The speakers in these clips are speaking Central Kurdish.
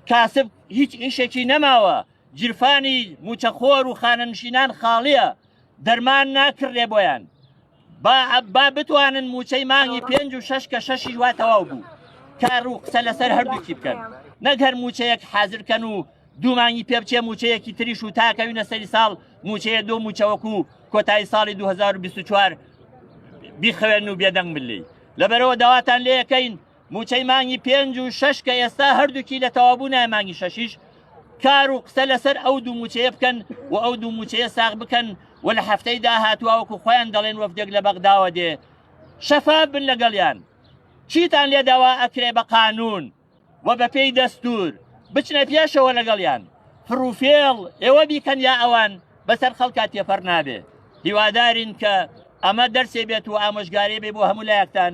کاسب هیچ ئیشێکی نەماوە جرفانی موچەخۆر و خانەنشینان خاڵیە دەرمان ناکردێ بۆیان با با بتوانن موچەی مانگی پێنج و شش کە شەشی وا تەواو بوو کار و قسە لەسەر هەردووکی بکەن نەک هەر موچەیەک حازرکەن و دوومانگی پێ بچێ موچەیەکی تریش و تاکەوینە سەری ساڵ موچەیە دو موچەوەکو کۆتایی ساڵی 2024 بیخەوێن و بێدەنگ بلی لەبەرەوە داواتان لەکەین موچەی مانگی پێنج و شش کە ئێستا هەردووکی لە تەوابوو نای مانگی شەشیش کار و قسە لەسەر ئەو دوو موچەیە بکەن و ئەو دوو موچەیە ساغ بکەن و لە هەفتەی داهاتواوەکو خۆیان دەڵێن وەفدێک لە بەغداوە دێ شەفاف بن لەگەڵیان چیتان لێ داوا ئەکرێ بە قانون و بە پێی دەستور بچنە پێشەوە لەگەڵیان فروفێڵ ئێوە بیکەن یا ئەوان بەسەر خەڵکا تێپەر نابێ هیوادارین کە ئەمە دەرسێ بێت و ئامۆژگاری بێ بۆ هەموو لایەکتان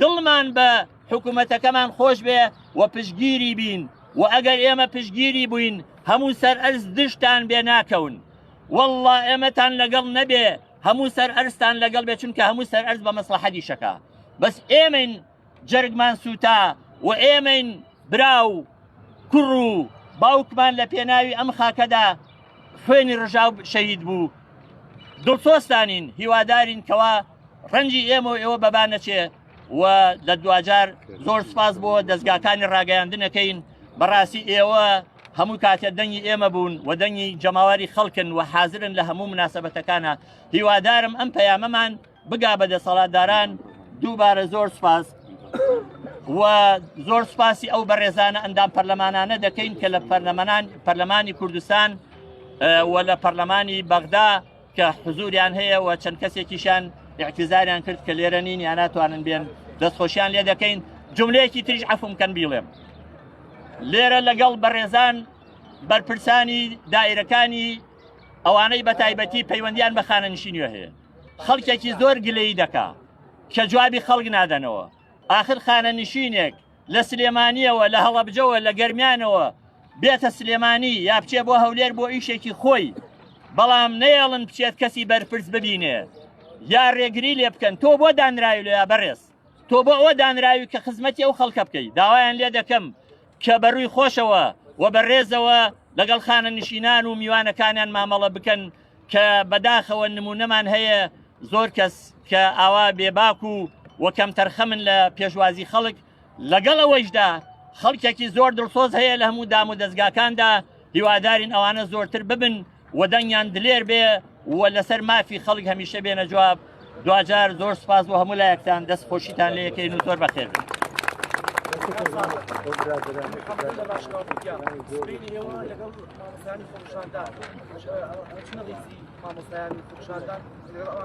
دڵمان بە حکومەتەکەمان خۆش بێ و پشگیری بین و ئەگەر ئێمە پشگیری بووین هەموو سەر ئەرز دشتان بێ ناکەون والله ئێمەتان لەگەڵ نەبێ هەموو سەر ئەرستان لەگەڵ بێ چونکە هەموو سەر ئەرز بە مەسلحەدی شەکە بەس ئێمەین جەرگمان سووتا و ئێمەین براو کوڕ و باوکمان لە پێناوی ئەم خاکەدا خوێنی ڕژاو شەهید بوو دڵسۆستانین هیوادارین کەوا ڕەنجی ئێمە و ئێوە بەبا نەچێ و لە دواجار زۆر سپاس بۆ دەستگاکانی ڕاگەیاندنەکەین بەڕاستی ئێوە هەموو کاتێ دەنگی ئێمە بوون و دەنگی جەماواری خەڵکن و حازرن لە هەموو مناسبەتەکانە هیوادارم ئەم پەیامەمان بگا بە دەسەڵاتداران دووبارە زۆر سپاس و زۆر سپاسی ئەو بەڕێزانە ئەندام پەرلەمانانە دەکەین کە لە پەرلەمانان پەرلەمانی کوردستان و لە پەرلەمانی بەغدا کە حزوریان هەیە و چەند کەسێکیشان اعتزاریان کرد کە لێرە نین یا ناتوانن بێن دەستخۆشیان لێ دەکەین جملەیەکی تریش عفم کەن بیڵێم لێرە لەگەڵ بەڕێزان بەرپرسانی دایرەکانی ئەوانەی بە تایبەتی پەیوەندیان بە خانەنشینیە هەیە خەڵکێکی زۆر گلەی دەکا کە جوابی خەڵک نادەنەوە ئاخر خانەنشینێک لە سلێمانیەوە لە هەڵەبجەوە لە گەرمیانەوە بێتە سلێمانی یا بچێ بۆ هەولێر بۆ ئیشێکی خۆی بەڵام نەیەڵن بچێت کەسی بەرپرس ببینێ یا ڕێگری لێ بکەن تۆ بۆ دانراوی لە یا بەڕێز تۆ بۆ ئەوە دانراوی کە خزمەتی ئەو خەڵکە بکەیت داوایان لێ دەکەم کە بە رووی خۆشەوە و بە رێزەوە لەگەڵ خانەنشینان و میوانەکانیان مامەڵە بکەن کە بەداخەوە نمونەمان هەیە زۆر کەس کە ئاوا بێباک و و کەمتەرخەمن لە پێشوازی خەڵک لەگەڵ ئەوەیشدا خەڵکێکی زۆر دڵسۆز هەیە لە هەموو دام و دەستگاکاندا هیوادارین ئەوانە زۆرتر ببن و دەنگیان دلێر بێ و لەسەر مافی خەڵک هەمیشە بێنە جواب دواجار زۆر سپاس بۆ هەموو لایەکتان دەست خۆشیتان لە یەکەین و زۆر بەخێر بێت.